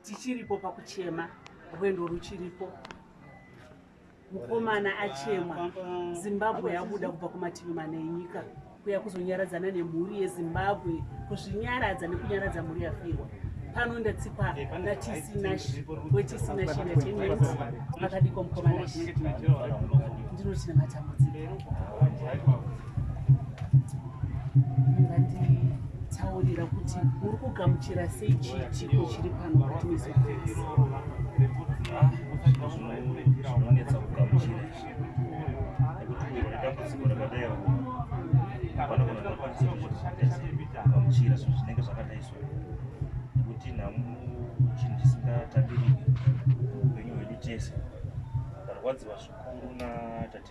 tichiripo pakuchema rwendo ruchiripo mukomana achemwa zimbabwe yabuda kubva kumativi mana enyika kuya kuzonyaradzana nemhuri yezimbabwe kuzvinyaradza nekunyaradza mhuri yafirwa pano ndatsikwa natisinashi wetisinas makadiko mukomana ndinochina matambudziko munganditaurira kuti uri kugamuchira sei chiitiko chiri pano mukati mezofesi ah, zvinonetsa kugamuchira izvi nekuti iro nedambudziko rakadai vana kana vanokwanisa kugamuchira zvinhu zvinenge zvakadai so nekuti nhamu chinhu chisingatambiriki upenyu hwedu tese ndarwadziwa zvikuru natate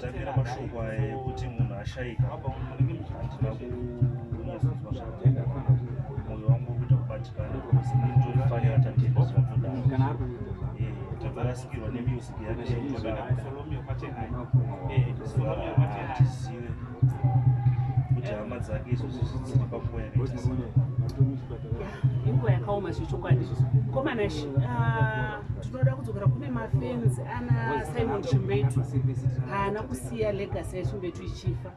Tangira mashoko aya ekuti munhu ashaika handina kunyatsokunzwa zvakajeka mwoyo wangu ukuita kubatikana because inini ndorifanira tatenda zvinotodaro tatorasikirwa nemusic yake tizive kuti hama dzake izvozvi zvidziri panguva yakaita inguva yakaoma zvechokwadi komana tinoda kudzokera kune mafans ana simon chimbetu haana kusiya legacy yachimbetu ichifa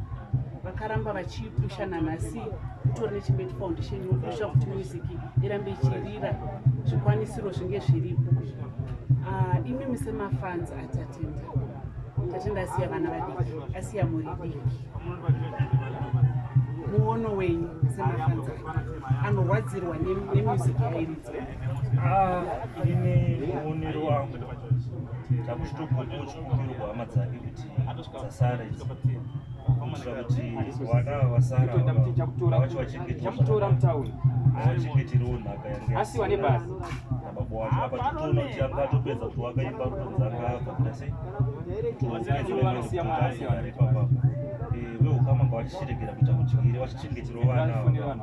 vakaramba vachipusha nanhasi kutori nechimbetu foundation inopusha kuti music irambe ichirira zvikwanisiro zvinge zviripo ah, imimi semafans atatenda tatenda asiya vana vadiki asiya mhuri diki muono wenyu semafans anorwadzirwa nemusic yairi Ah, ini muonero wangu takuchitogoda uchikumbiro kuhama dzake kuti dzasara idzi kuitira kuti vana vasara vacho vachengetewavachengeterewo nhaka yangeasi vane basa nababa wacho apa titoona kuti anga atopedza kuti wakaimba rutonzi anga abva kuda sei toaari papa eh, veukama ngavachichiregera kuita kudyire vachichengeterewo vana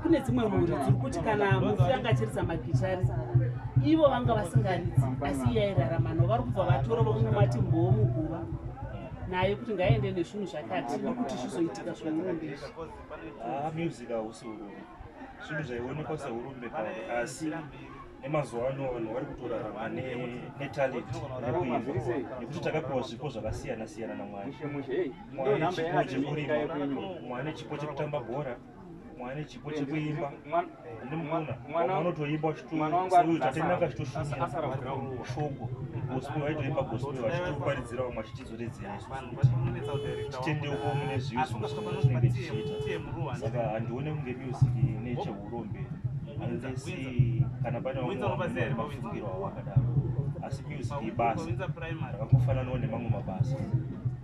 kune dzimwe mhuri dziri kuti kana mufi anga achiridza magichari ivo vanga vasingaridzi asi iye airarama no vari kubva vatora vamwe mati mboo muguva naye kuti ngaaende nezvinhu zvakati nokuti zvizoitika zveurumbe izvi ah, music hausi urumbe zvinhu zvaionekwa seurumbe pa asi nemazuva ano vanhu vari kutorarama netalent nekuimba nekuti takapiwa zvipo zvakasiyana siyana namwari mwana chipo chekurima mwana chipo chekutamba bhora mwana chipo chekuimba ndimukuna mwana unotoimba uchitotatemaka chitoshumira shoko gospel aitoimba gospel achitoparidzira vamwe achitizoredzera isu titendeuko mune zvivi zvimwe zvatinenge tichiita saka handione kunge music necheurombe unless kana pane vamwe mafungiro awakadaro asi music ibasa rakakufananawo nemamwe mabasa